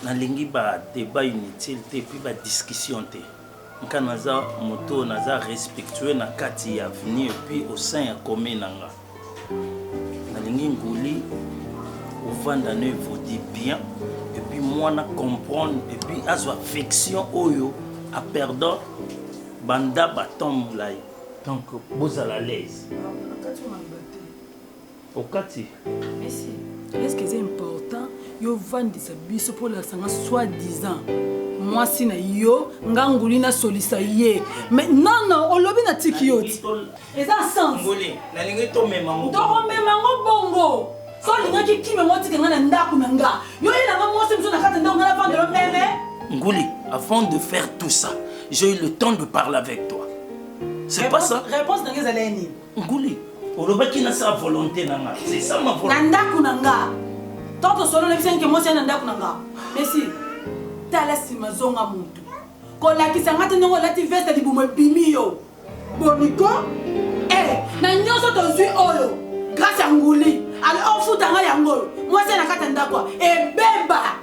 Nalingi ba debat inutile te puis ba discussion te nka naza moto oyo naza respectueux na kati ya avenir puis au sein ya commune na nga nalingi nguli ovanda no evodi bien epuis mwana comprendre epuis azwa affection oyo a perdant banda batemp molai donc bozala à l'aise Okati. Merci. Est-ce que c'est important yo vandisa biso mpo olakisa nga soit disant mwasi na yo nga nguli nasolisa ye mais non non olobi na tiki yo ti eza senstokomema ngo bongo so olingaki kime ngo tika nga na ndako na nga yo yelanga mwasi mosusu na kati ndako nga na vandelo meme nguli avant de faire tout ça j'ai eu le temps de parler avec toi c'est pas ça réponse na nga ezali nini Nguli, olobaki na sa volonté na nga. C'est ça ma volonté. Na ndaku na nga. Tant que solo lebisa nke mwasi na ndaku na nga. Messi, tala sima zonga mutu. Kolakisa nga te ndenge olati veste libumu ebimi yo. Boniko, eh, na nyoso tozui oyo. Grâce ya nguli. Alors ofuta nga yango. Mwasi na kata ndakwa. Ebeba.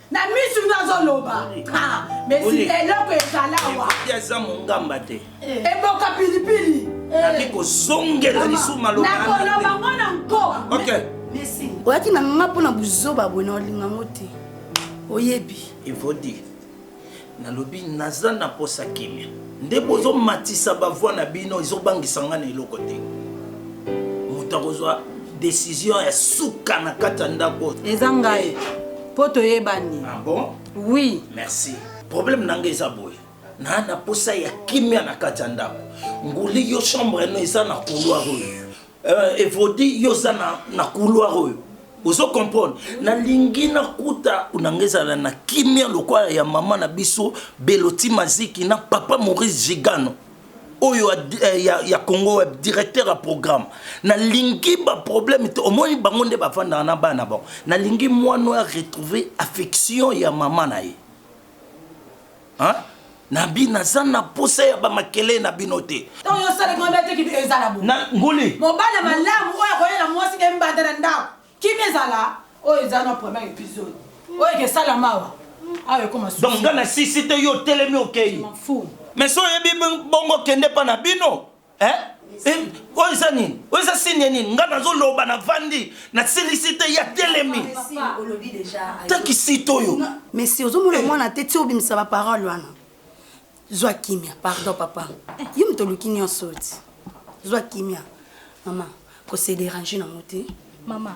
na misu nde azoloba ah, mesi eloko ezala wa aza mongamba te eh. eboka pilipili eh. nabi kozongela lisusu malobakoloba ngo na nko oyaki na nga mpo na buzoba boye na olinga ngo te oyebi evodi Nalobi naza na posa kimia nde bozo matisa ba voix na bino ezo bangisa nga na eloko te moto akozwa decision ya suka na kati ya ndako eza ngai po toyebani ah bon oui merci problème na nga eza boye naa na posa ya kimia na kati ya ndako nguli yo chambre no eza na couloir oyo Euh, Evodi, yo oza na, na couloir oyo ozo comprendre nalingi nakuta nanga ezala na kimia lokola ya mama na biso beloti maziki na papa maurice gigano oyo ya, eh, ya, ya congo web directeur ya programme nalingi baproblème te omoni bango nde bafandaka na bana bango nalingi mwana oyo aretrouve affection ya mama na ye Hein? Nabi naza na posa ya ba makele na bino te. Tango yo sala kimia te kimia ezala bo. Na nguli. Mobala malamu oyo akoya na mwasi na mbanda na ndako. Kimia ezala. Oyo eza na premier episode. Oyo ke sala mawa. Awe koma susi. Donc nga na sisi te yo telemi okeyi. Je m'en fous. Mais so yebi bongo kende pa na bino. eh? Eh, oyo eza nini oyo eza signe nini ngai nazoloba navandi nasilisi te ya telemi takisite oyo mesi ozomona eh. mwana te ti obimisa baparole wana zwa kimia pardon papa yo moto oluki nyonso oti zwa kimia mama kose derange nango te mama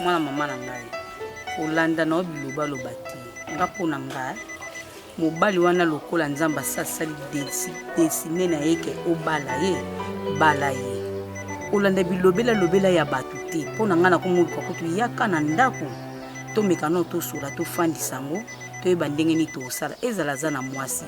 mwana mama na ngai olanda na yo bilobaloba te nga mpo na ngai mobali wana lokola nzambe asasali desine na ye ke obala ye bala ye olanda bilobela lobela ya bato te mpo na ngai nakomoluka kutu yaka na ndako tomeka nao tosola tofandisa yango toyeba ndenge nini tosala ezala aza na mwasi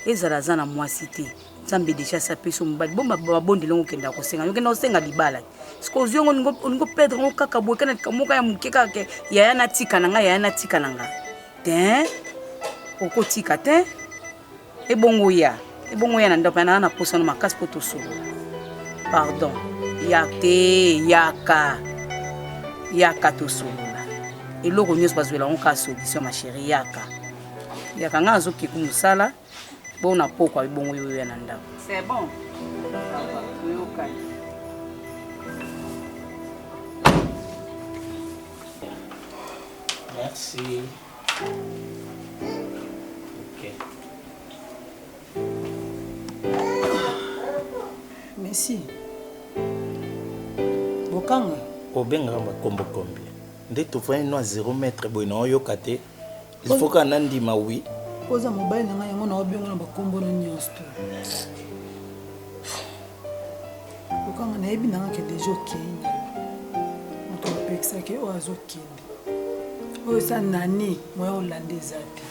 ezala aza na mwasi te nzambe deja asi apesi yo mobali bo mabondeli yango okendaka kosenga yo okenda kosenga libala soki ozwi yango olingi opedre yango kaka boye kana likambo moko ya moke kaka ke yaya natika na ngai yaya natika na ngai te okotika te ebongo ya ebongo ya na ndako ya naa na posano makasi mpo tosolo pardon ya te yaka yaka tosolola eloko nyonso bazwela yango kaka solution ma chérie yaka yaka ngai azokeku mosala Bo na pokwa ebongo yo ya na ndako. C'est bon. Merci. Okay. Merci. Bokanga. Obengaka makombo kombi. Nde tofani no a 0 mètre boye na oyoka te. il faut kaka nandima wi oza mobali na ngai yango na obiongo na bakombo na nyonso to lokanga nayebi nanga ke deja okei moto apekisaki oyo azokende oyo eza nani moya olanda eza te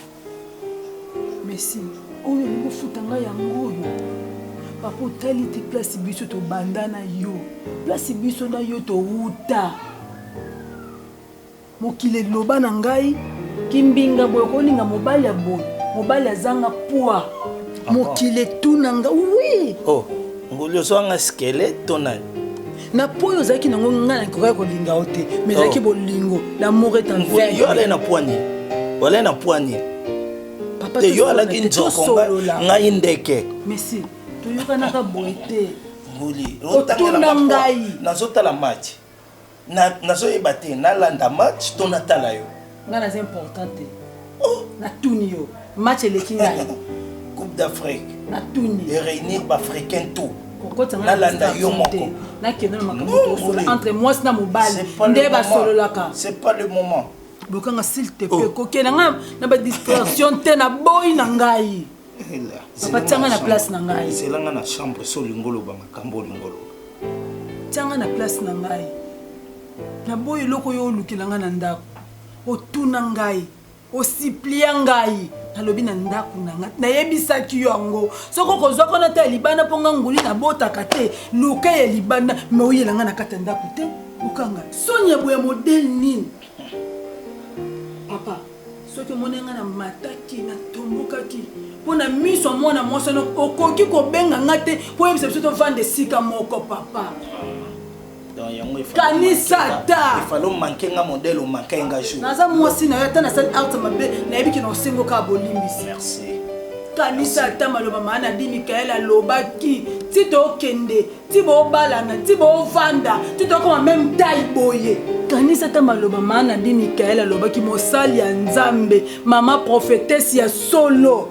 mesi oyo olingi ofuta ngai yango oyo papa otali te place biso tobanda na yo place biso na yo towuta Mokili loba na ngai kimbinga boye okolinga mobali ya boye mobali azanga poids ah mokili etuna nga oui oh ngulu ozwanga squelette to nani na po oyo ozalaki nango ngai nakokaki kolinga yo te mais ezalaki oh. bolingo l'amour est en vain yo alai na poigne olai na poigne te yo alaki nzoko ngai ndeke mesi toyokanaka boye te nguli otuna ngai nazotala match Na nazo yeba te na landa match to na tala yo. Nga naza important te. Oh! Na tuni yo. Match eleki ngai. Coupe d'Afrique. Na tuni. E reunir ba africains tout. Na landa yo moko. Na kende na makambo to entre moi na mobali nde ba sololaka. C'est pas le moment. Bokanga s'il te plaît. Oh. Kokena nga na ba distraction te na boyi na ngai. papa tianga na place na ngai zelanga na chambre so olingo oloba makambo olingo oloba tianga na place na ngai naboyi eloko yo olukela ngai na ndako otuna ngai osiplia ngai nalobi na ndako na ngai nayebisaki yo yango soki okozwa kona ta ya libanda mpo ngai nguli nabotaka te luka ya libanda me oyela ngai na kati ya ndako te okanga soni ya boya modele nini papa soki omoni nga na mataki na tombokaki mpo na miso ya mwana mwasi wana okoki kobenga nga te mpo oyebisa biso tovanda esika moko papa kanisa ataefalomanke nga modele omankai nga jour naza mwasi na yo ata nasali art mabe nayebi kina osengo kaka bolimbisi kanisa ata maloba maa nabi mikael alobaki ti tokende ti bobalana ti bovanda ti tokoma meme tai boye kanisa ata maloba maa na bi mikael alobaki mosali ya nzambe mama profetese ya solo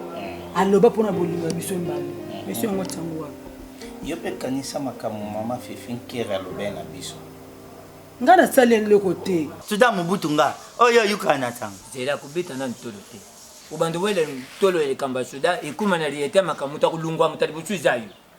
aloba mpona bolingo ya biso mbala biso yango tiango wana yo mpe kanisa makambo mama fifi nkere alobaki na biso nga nasali eloko te suda mobutu nga oyo ayukaka na ntango zela kobeta na ntolo te obanda wele ntolo elekamba suda ekuma na liyete makambo moto akolungwa moto liboso eza yo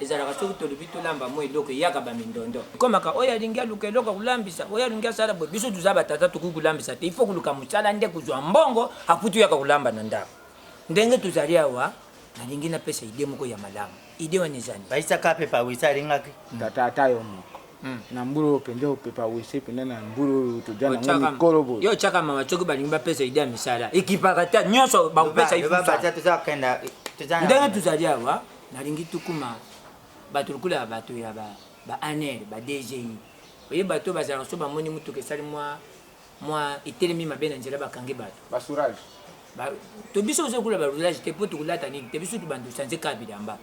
Ezalaka soki tolobi tolamba mwa eloko eyaka ba mindondo. Ekomaka oyo alingi aluka eloko kolambisa, oyo alingi asala boye. Biso toza ba tata tokoki kolambisa te. Il faut koluka mosala nde kozwa mbongo apres toyaka kolamba na ndako. Ndenge tozali awa nalingi napesa idee moko ya malamu. Idee wana eza nini? Baisa kape pa wisa alingaki. Tata ata yo moko. Hmm. na mbula oyo mpenza opepa wese mpenza na mbula oyo toza nango mikolo boye yo otyaka mama soki balingi bapesa ide ya misala ekipaka te nyonso bakopesa ndenge tozali awa Nalingi tukuma bato lokola ya bato ya ba, ba ANR, ba DGI. Oye bato oyo bazalaka so bamoni motuka esali mwa, mwa etelemi mabe na nzela bakangi bato. Ba sourage. Ba, to biso ozo kula ba roulage te po tokolata nini te biso tubanda sanze kaka bilamba.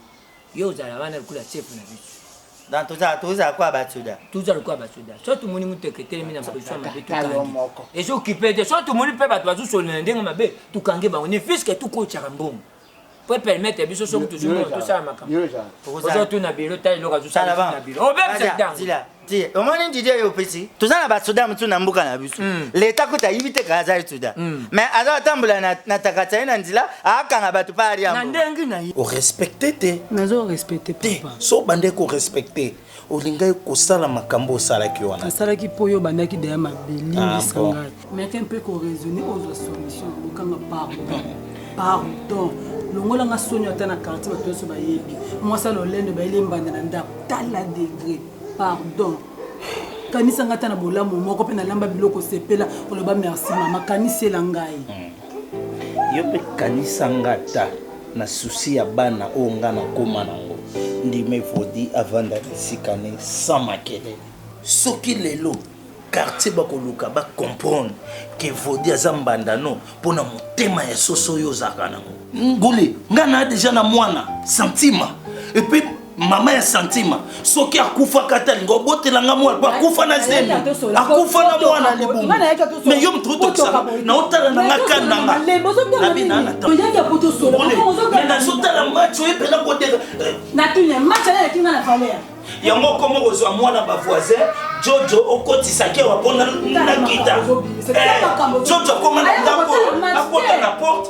Yo ozala wana lokola chef na biso. Donc toza toza kwa ba soda. Toza lokola ba soda. So tumoni motuka etelemi na position mabe tukangi. Ezo kipe te. So tumoni pe bato bazo solola na ndenge mabe tukangi bango. Ne fils que tukotshaka mbongo. po epermettre biso soki tozwi mbongo tosala makambo okozala tu na bilo tala eloko azosala na bilo obebisa ntango omoni didie yo opesi toza na basoda mosusu na mboka na biso hmm. leta kuta ayibi te kaka azali soda hmm. mais aza atambola na takata ye na nzela akanga bato pa aliambo orespecte te nazo respecte te so bande korespecte Olingaki kosala makambo osalaki wana. Nasalaki mpo yo obandaki deja mabe, limbisa ah, ngai. Meke mpe ko raisonner ozwa solution, lukanga pardon. Pardon. Longola nga soni ata na quartier bato nyonso bayebi. Mwasi ya lolendo bayeli embanda na ndako. Tala degré. Pardon. Kanisa nga ata na bolamu moko mpe nalamba biloko sepela oloba merci mama kanisela ngai. Hmm. Yo pe kanisa nga ata na souci ya bana oyo nga na koma na ngo. Ndima evodi avanda na esika ne sans makelele. Soki lelo quartier ba koluka ba comprendre que vodi aza mbanda no pona motema ya soso oyo ozalaka na ngo. Nguli nga na dejà na mwana santima et puis mama ya santima soki akufaka ata linga obotela nga mwana po akufa na zemi akufa na mwana libumu me yo moto otokisaka na otala na nga kani na nga nabi na natameme nazotala match oye mpena koteka yango okomi kozwa mwana bavoisin jojo okotisaki awa mpo nakita eh, jojo akoma na ndako akota na porte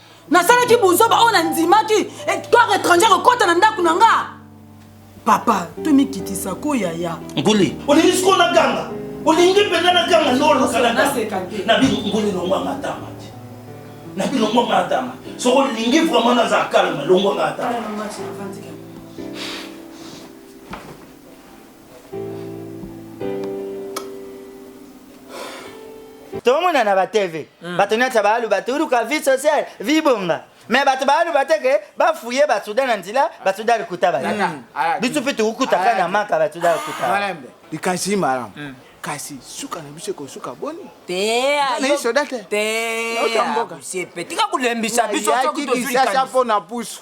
nasalaki buzoba oyo nandimaki eh, corps étranger kokɔta na ndako na nga papa tomikitisa ko yaya nguli olingi sikoyo naganga olingi mpenza naganga nolokalanabi longwa matama te nabi longwa matama soki olingi vraiment naza kalma longwa matama tomona na ba tv mm. bato nyonso baluba turuka vie sociale vie bonga me bato baluba te ke bafuye basuda na nzela basuda likuta baye mm. ah, biso mpe tokukutaka na maka basuda likuta likasi malamu mm. kasi suka na biso ekosuka boni teaotamboka tika kolembisa biso soki tozwi mpo na pusu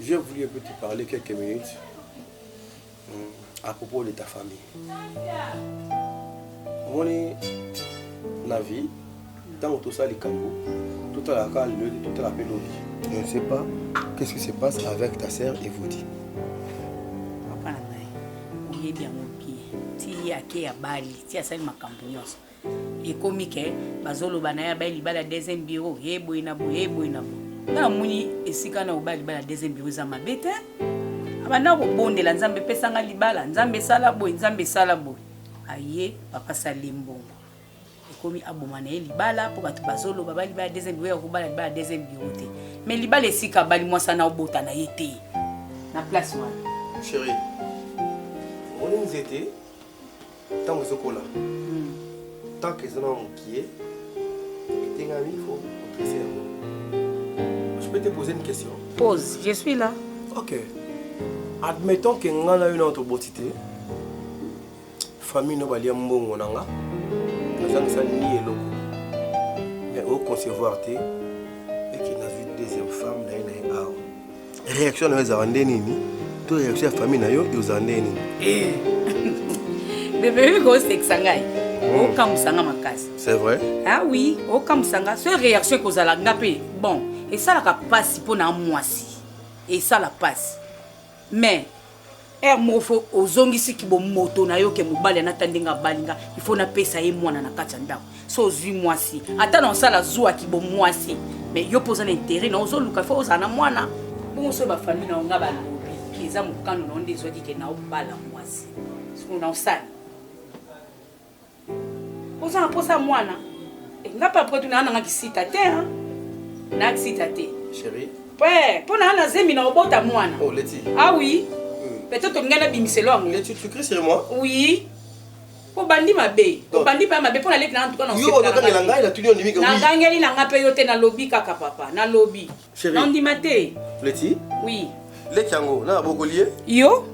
J'ai voulu un peu te parler quelques minutes hmm, à propos de ta famille. omoni na vie ntango tosala likambo totalaka lelo totala mpe lobi je ne sais pas qu'est-ce qui se passe avec ta sœur evodi papa na ngai oyebi yango bien ti ye ake ya bali ti asali makambo nyonso ekomi ke bazoloba na ye abai libala ya deuxième bureau ye boye na boye ye boye na boye nga namoni esika wana kobala libala ya deuxième bureau eza mabe te abanda kobondela nzambe epesanga libala nzambe esala boye nzambe esala boye aye papa sali mbongo ekomi aboma na ye libala mpo bato bazoloba bali libala deuxième bureau ya kobala libala deuxième bureau te mais libala esika abali mwasi ana obota na ye te na place wana chérie omoni nzete ntango ezokola tant que eza na mokie etengami fo otrese yango je peux te poser une question pose je suis là ok admettons ke nga na yo nao toboti te famille no balia mbongo na nga nazangisa ni eloko mais oconcevoir te eke nazwi deuxième femme na ye na ye awa reaction na yo ezalaka nde nini to reaction ya famille na yo eozala nde nini eh. bebe kosekisa ngai hmm. okamwisa nga makasi c'est vrai ah oui okamwisa nga so reaction ekozala nga mpe bon esalaka mpasi mpo na mwasi esala mpasi mais Heure moko fo ozongisi ki bo moto na yo ke mobali anata ndenge abali nga il faut napesa ye mwana na kati ya ndako so ozwi mwasi ata na osala zuwa ki bo mwasi mais yo mpo oza na interet na ozoluka fo ozala na mwana bongo so bafamille na yo nga balobi ki eza mokano na yo nde ezwaki ke na obala mwasi sikoyo na osala oza na mposa ya mwana eh, nga papa kutu naa nanga kisita te na kisita te mpo naa na zemi na obota mwana oh, ah oui hmm. peut-être olingai nabimiselo yango oui obandi mabe obandi mpe mabe mpo naleki na antuka na nangangeli na ngai mpe yo te nalobi kaka papa nalobi Chérie. Nandima te. Leti. Oui. Leti yango na bokoli ye. Yo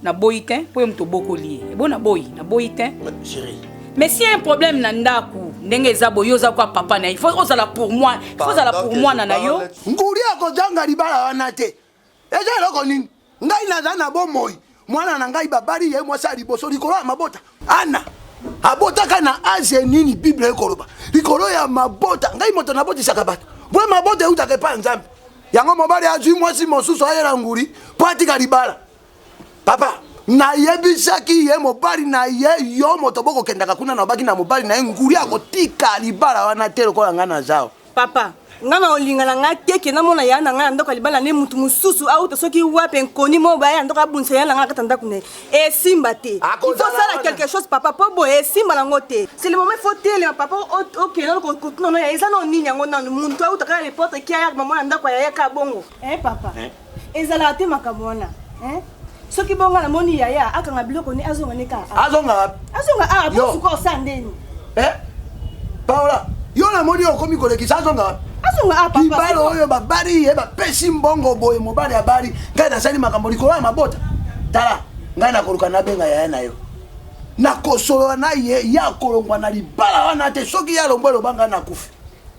na boyi te mpo ye moto obokoli ye. Ebo na boyi, na boyi te. Chérie. Mais si un problème na ndaku ndenge eza boye oza kwa papa na ye faut ozala pour moi faut ozala pour mwana na yo ngudi akozanga libala wana te eza eloko nini ngai naza na bomoi mwana na ngai babali ye mwasi ya liboso likolo ya mabota ana abotaka na aze nini bible ekoloba likolo ya mabota ngai moto nabotisaka bato boye mabota eutaka epai ya nzambe yango mobali azwi mwasi mosusu ayela nguli mpo atika libala papa nayebisaki ye mobali na ye yo moto bokokendaka kuna nabaki na mobali na ye nguli akotika libala wana te lokola ngai nazao Papa, nga na olinga na nga te ke namona yaya na nga na ndako ya libala ne mutu mosusu auta soki wapi enkoni mo baya ya ndako abundisa yaya na nga na kati ya ndako na ye esimba te ikosala quelque chose papa mpo boye esimba nango te selemome fo telema papa okende nano kotuna no ya eza nao nini yango nano muntu auta kaka lepotre kia yaka mamona ndako ya yaya kaka bongo e papa ezalaka te makambo wana hein? soki bonga na moni yaya akanga biloko ne azonga ne kaka azonga wapi azonga awa posuka osa ndeni eh paola yo na moni okomi kolekisa azonga wapi azonga awa libala oyo babali ye bapesi mbongo boye mobali abali ngai nasali makambo likolo ya mabota tala ngai nakoluka nabenga yaya na yo nakosolola na ye ye akolongwa na libala wana te soki ye alongwa eloba ngai nakufi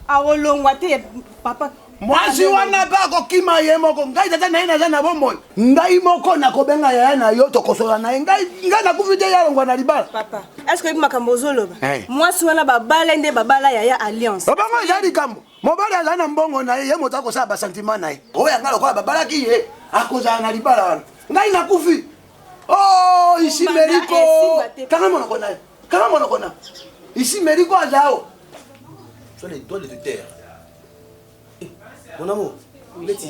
akolongwa te papa mwasi wana mpe akokima ye moko ngai tata na ye naza na bomoi ngai moko nakobenga yaya na yo tokosola na ye ngai ngai nakufi te ye alongwa na libala papa eske oyebi makambo ozoloba eh. mwasi wana babala nde babala yaya alliance obango eza likambo mobali azali na mbongo na ye ye moto akosala basentiment na ye oyo yanga lokola babalaki ye akozala na libala wana ngai nakufi o oh, isi meriko kanga monoko na ye kanga monoko na isi meriko azao sur les doigts de terre Mon amour, Betty,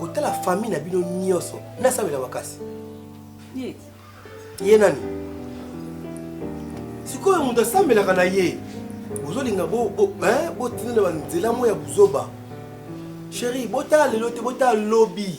kotala famille na bino nyonso nasalela makasi. Ye nani? Sikoyo moto asambelaka na ye bozolinga botina na banzela moko ya buzoba. Chérie, botala lelo te, botala lobi.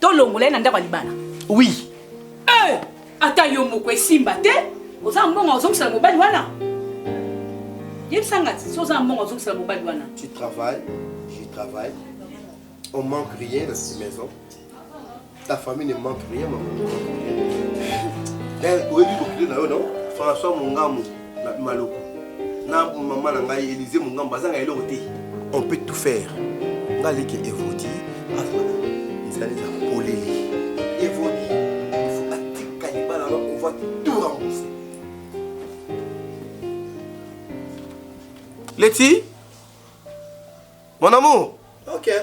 tolongola ye na ndako ya libala oui eh, ata yo moko esimba te oza mbongo ozongisela mobali wana yebisa nga ti so oza mbongo ozongisela mobali wana tu travaille je travaille on manque rien dans cette maison ta famille ne manque rien maman oyebi kokile na yo non françois mongamu Maloko na maman na ngai Elise Mungamba azanga eloko te. On peut tout faire. Nga leke Evodi azala nzela nzela polele. Evodi il faut atika libala na on va tout rembourser. Leti Mon amour. Okay.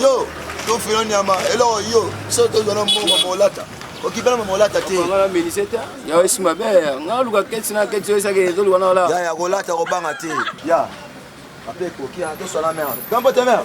yo tofilo nyama eloko yo so tozwa na mbongo molata okipela ma molata te ya kolata kobanga te ya ape ekoki toswana mare gambo te mare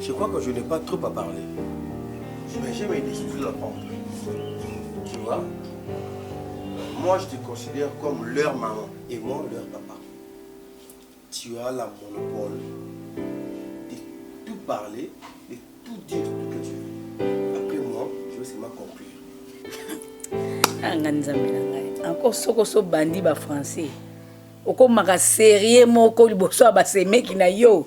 Je crois que je n'ai pas trop à parler. Mais j'ai mes discours la pompe. Tu vois Moi, je te considère comme leur maman et moi, leur papa. Tu as la monopole de tout parler, de tout dire tout que tu veux. Après moi, je vais seulement conclure. anga nzambe na ngai encore soko so bandi ba français okomaka serie moko liboso ya basemeki na yo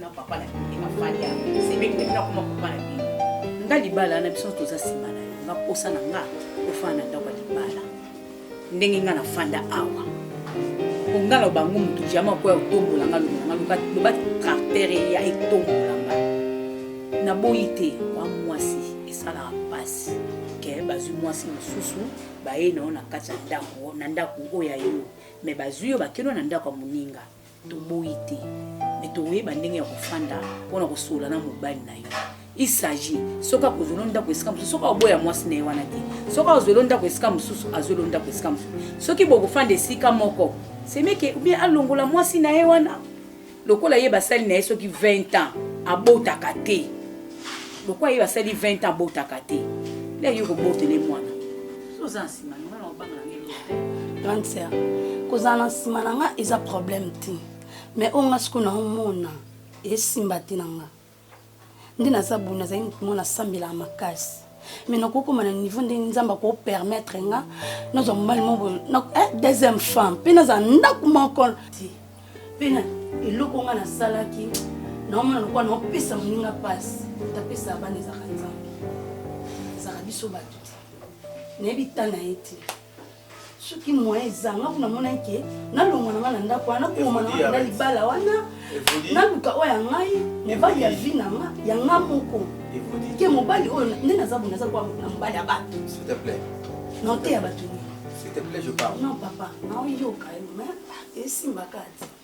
na papa na bino na fali ya semeki na bino akoma papa na bino nga libala na biso toza nsima na yo nga posa na nga ofana na ndako ya libala ndenge nga na fanda awa nga na bango moto jama koya otombola nga loba nga loba loba caractere ya etombola nga naboyi te wa mwasi esalaka mpasi ke bazwi mwasi mosusu baye na yo na kati ya ndako na ndako oyo ya yo me bazwi yo bakeno na ndako ya moninga Toboyi te mais tokoyeba ndenge ya kofanda mpo na kosolola na mobali na yo il s'agit soki akozwelo ndako esika mosusu soki aoboya mwasi na ye wana te soki azwelo ndako esika mosusu azwelo ndako esika mosusu soki bokofanda esika moko semeke ubien alongola mwasi na ye wana lokola ye basali na ye soki 20 ans abotaka te lokola ye basali 20 ans abotaka te leki okobotele mwana oza nsima na ngai obanga na ngai te grande sœur kozala na nsima na ngai eza problème te mais oyo ngai sikoyo naomona esimba te na ngai nde naza boye nazali motu moko nasambelaka makasi mais nakoki koma na niveau ndenge nzambe akopermettre nga nazwa mobali moko eh, deuxième femme mpe nazala ndako moko te mpe na eloko nga nasalaki naomona lokola naopesa moninga mpasi tapesa bana ezaka nzambe ezaka biso bato nayebi ta na ye te soki moyen ezanga kuna monaki ke nalongwa na ngai na ndako wana nakoma na ngai na libala wana naluka oyo ya ngai mobali ya vi na nga ya nga moko ke mobali oyo nde naza bo naza lokola na mobali ya bato na oteya bato non papa naoyoka yo ma esimbaka te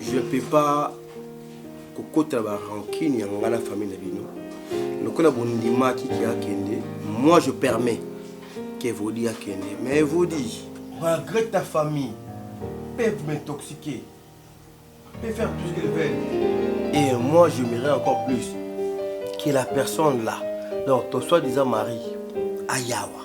Je peux pas kokota ba rancune ya ngai na famille na bino lokola bondimaki ki akende moi je permets que vodi akende mais vodi regrette ta famille peuvent m'intoxiquer peut faire tout ce qu'ils veulent et moi je m'irai encore plus que la personne là donc ton soi-disant mari ayawa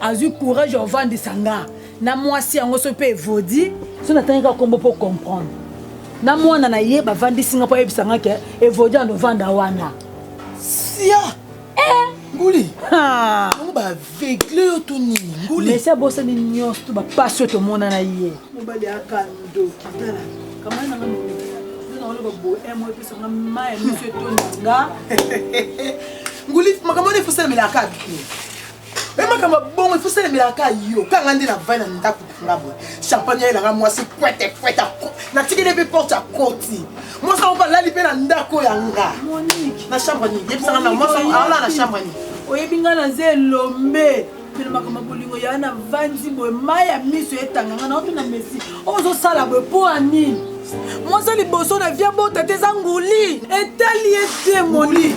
azwi courage ya ovandisa nga na mwasi yango soki mpe evodi so natangi kaka nkombo mpo comprendre na mwana na ye bavandisi nga mpo ayebisa nga ke evodi ya novanda wana sia eh! nguli yango baavegle yo to nini nguli mesi abosani nyonso to bapasi oyo tomona na ye mobali aka ndoki tala kamai nanga oloba boye eh, mo epesa nga mai miso etonda nga nguli makambo wana efosalamela kaka me makambo bongo ifo salemelaka ka yo ka nga nde na vai na ndako na nga boye champagne ayelanga mwasi kwete kwete natikeli mpe porte akoti mwasi yango balali mpe na ndako ya nga na chambre nini yebisanga na mwasi aolala na chambre nini oyebi nga naza elombe pele makambo ya bolingo yaa na vanzi boye mai ya miso etanga nga naoto na mesi ozosala boye mpo ya nini mwasi liboso na via bota te eza nguli etali ete moni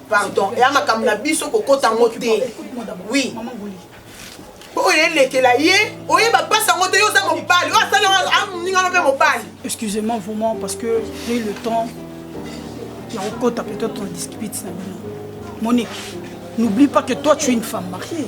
pardon eya makambo na biso kokota yango te wi oyo elekela ye oyeba mpasi yango te yo oza mobali oyo asali aningano mpe mobali excusez-moi vraiment parce que j'ai le temps ya kokota peut-être on discute na bino monique n'oublie pas que toi tu es une femme mariée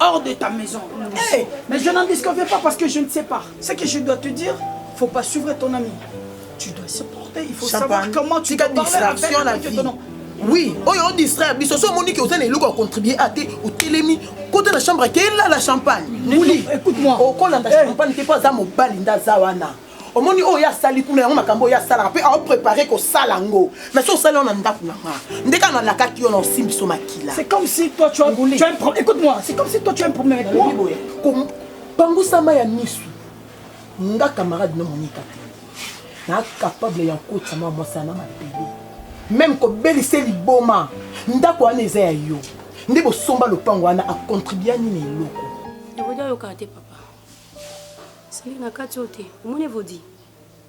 hors de ta maison. Hey, mais je n'en disconviens pas parce que je ne sais pas. Ce que je dois te dire, faut pas suivre ton ami. Tu dois se porter, il faut Champagne. savoir comment tu dois parler avec, la avec vie. ton nom. oui oyo odistraire biso so omoni ke oza na eloko ya contribue a te otelemi kota na chambre ake elala champagne muli okolanda champagne te mpo aza mobali nde aza wana omoni oyo ye asali kuna yango makambo oyo ye asalaka mpe ao prépare kosala yango mais so osali yango na ndako na nga nde kaka nalakaki yo na osimbi so makila c'est comme si toi tu as, tu as un problème écoute moi c'est comme si toi tu as un problème avec moi boye kobangusama ya misu nga camarade na monika te na capable ya kokotisa mwa mwasi na mabele meme kobelisa liboma ndako wana eza ya yo nde bosomba lopango wana akontribua nini eloko Sali na kati oyo te. Omoni evodi.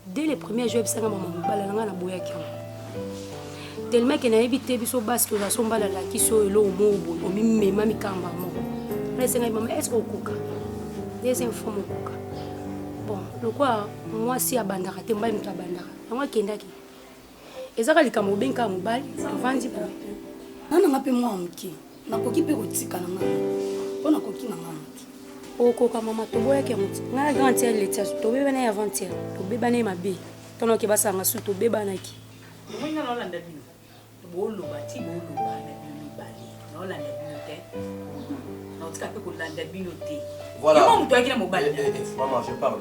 Dès le premier jour ebisanga mama mobala na ngai na boyaki yango. Tellement que nayebi te biso basi toza so mbala la kiso elo mo bo omi mema mikamba mo. Na senga mama est-ce que okoka? Deuxième fois mokoka. Bon, lokwa mwasi abandaka te mbai moto abandaka. Yango akendaki. Eza ka likambo obengi kaka mobali tovandi boye. Nga na nga mpe mwana moke nakoki mpe kotika na nga mpo nakoki na nga moke. Okoka mama toboyaki yango ti nga na grande sœur Letia tobebana ye avant hier tobebana ye mabe tana oke basanga su tobebanaki. Omoni nga naolanda bino boloba ti boloba na bino mibale naolanda bino te naotika mpe kolanda bino te. Voilà. Yo moto oyaki na mobali. Eh, eh, eh, maman je parle.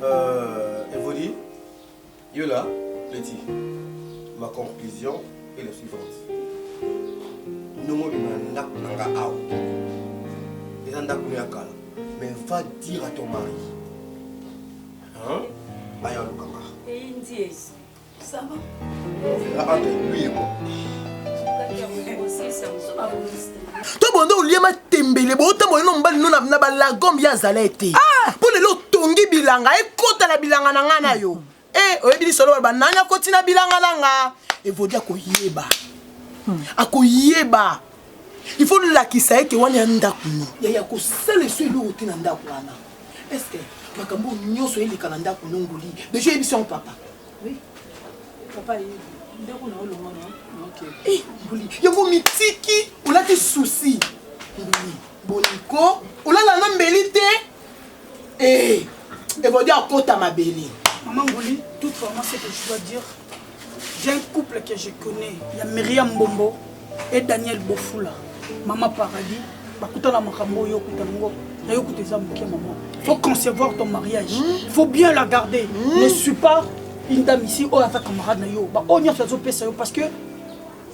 Euh, Evoli Yo là, petit, ma conclusion est la suivante. Ndongo bima ndako na nga awa. Eza ndako ya kala. Mais va dire à ton mari. Hein? Aya lukanga. Et Indies. Ça va? On verra entre lui et moi. to bonde olie matembele bootambwa lino mobali no na balagom ye azala ete ah! mpo lelo otongi bilanga ekota na bilanga na ngai na yo e eh, oyebi lisolo baloba nani akoti na bilanga na nga evodi akoyeba hmm. akoyeba il faut lolakisa ete wana ya ndako no yaya kosala esu eloko te na ndako wana estce makambo nyonso eleka na ndako no ngoli deja oyebisi yango papa yango mitiki olati susi boliko olala na mbeli te eh, ekodi akota mabele mama nguli tout vraiment ce que je dois dire j'ai un couple que je connais ya myriam mbombo et Daniel Bofula maman paradis bakutana makambo oyo okutana ngo na yo kuta eza moke maman faut concevoir ton mariage hmm? faut bien la garder hmm? ne suis pas une dame ici oyo aza camarade na yo baoyo nyonso azopesa yo parce que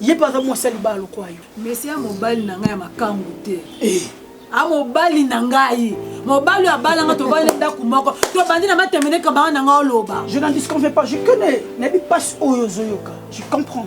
ye mpe aza mwasi ya libala lokola yo mesi ya mobali na ngai ya makangu te eh. a mobali na ngai mobali oyo abalanga tobali ndako moko tobandi na matemene kamara na ngai oloba je n'en disconviens pas je connais nayebi mpasi oyo ozoyoka je comprends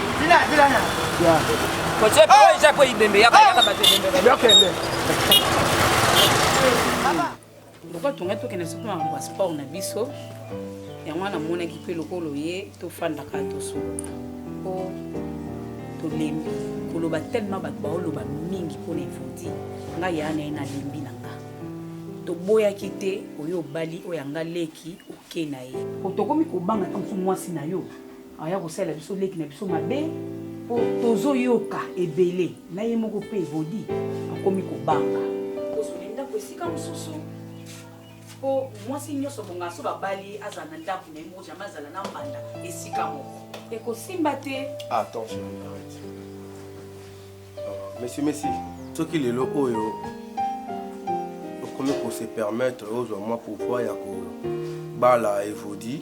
lokola tongai tokende soki na makambo ya sport na biso yango wana namonaki mpe lokola oye tofandaka tosolola mpo tolembi koloba telema bato baoloba mingi mpo na evodi ngai yaa na ye nalembi na nga toboyaki te oyo obali oyo anga leki oke na ye tokomi kobanga ntango mosu mwasi na yo aya kosalela biso leki na biso mabe mpo tozoyoka ebele na ye moko mpe evodi akomi kobanga kozwa ndako esika mosusu mpo mwasi nyonso bongaka so babali ye azala na ndako na ye moko jamai azala na mbanda esika moko ekosimba te attention mesi mesi soki lelo oyo okomi kose permettre ozwa mwa pouvoir ya kobala evodi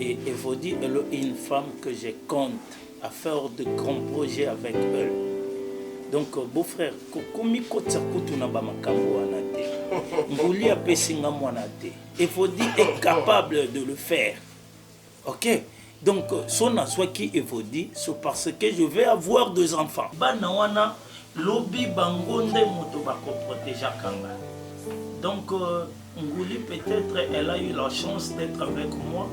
Et Evodi elle est une femme que je compte à faire de grands projets avec elle. Donc euh, beau frère, komi kotsa kutu na ba makambo wana te. Nguli apesi nga mwana te. Evodi est capable de le faire. OK Donc euh, son azwaki Evodi, c'est parce que je vais avoir deux enfants. Bana wana lobi bango nde moto bakoprotegeaka nga. Donc euh, Nguli peut etre elle a eu la chance d'etre avec moi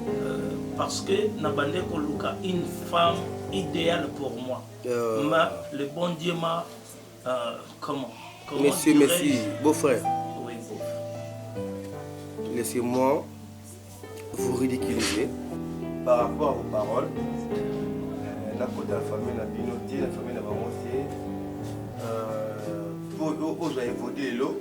euh, parce que na bande ko luka une femme idéale pour moi euh... ma le bon Dieu m'a euh, comment comment monsieur merci beau frère oui beau frère laissez-moi vous ridiculiser par rapport aux paroles euh, na kota famille na bino te na famille na bango te euh, oyo ozwa evolue lelo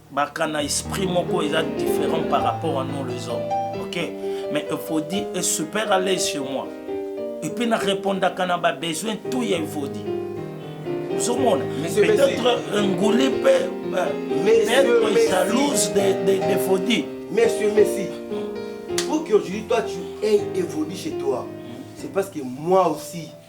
baka na esprit moko eza différent par rapport à nous les hommes ok mais evodi est super à l'aise chez moi epuis na répondaka na babesoin tout ya evodi ozomona peut-être nguli mpe peut-être jalouse d'evodi monsieur messi pour qu'aujourd'hui toi tu aies evodi chez toi c'est parce que moi aussi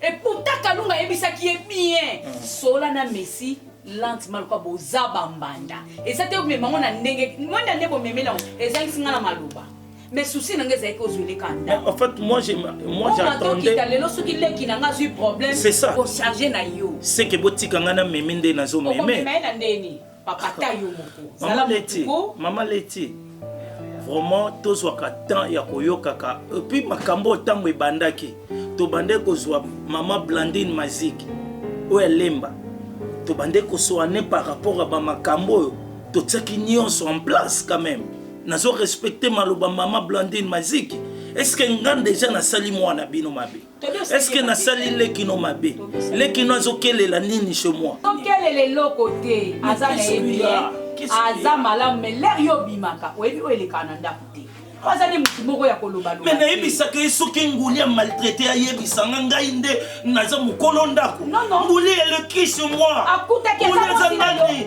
Et pourtant Kalunga ayebisaki ye bien solola na Messi lentement lokola boza bambanda eza te omema yango na ndenge mwenda nde bomemeli yango ezangisi ngai na maloba mais souci na ngai ezalaki ozweleka ndako en fait moi j'ai moi j'attendais okita lelo soki leki na ngai azwi problème c'est ça ko charger na yo c'est que botika ngai na meme nde nazo meme okomema ye na ndeni Papa ta yo moko. Zala leti. Mama leti. Vraiment tozwaka temps ya koyokaka et puis makambo ntango ebandaki tobandaki kozwa mama Blandine Mazik oyo alemba tobandaki kosoane par rapport ya bamakambo oyo totiaki nyonso en place quand même nazo respecte maloba mama Blandine Mazik est-ce que nga deja nasali mwana bino mabe eske nasali leki no mabe leki no azokelela nini chez moi okelela eloko te aza na ye bien aza malamu mais lere yo obimaka oyebi oyo elekaka na ndako te aza nde motu moko ya kolobaloba me nayebisaka ye soki nguli ya maltraite ayebisa nga ngai nde naza mokolo ndako nguli elekisi mwa akutaki aza nani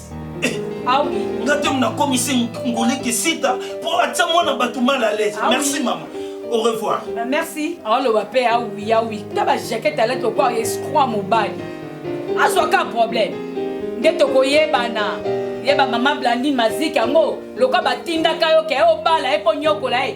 Ah oui. Nga te mna komi se ngole ke sita po atia mwana bato mal à l'aise. Ah oui. Merci maman. Au revoir. Bah, merci. aoloba mpe awi awi ta bajakete alati lokola escroit mobali azwa ka problème nde tokoyebana ye bamama blandine maziki yango lokola batindaka yo ke obala ye mpo nyokola ye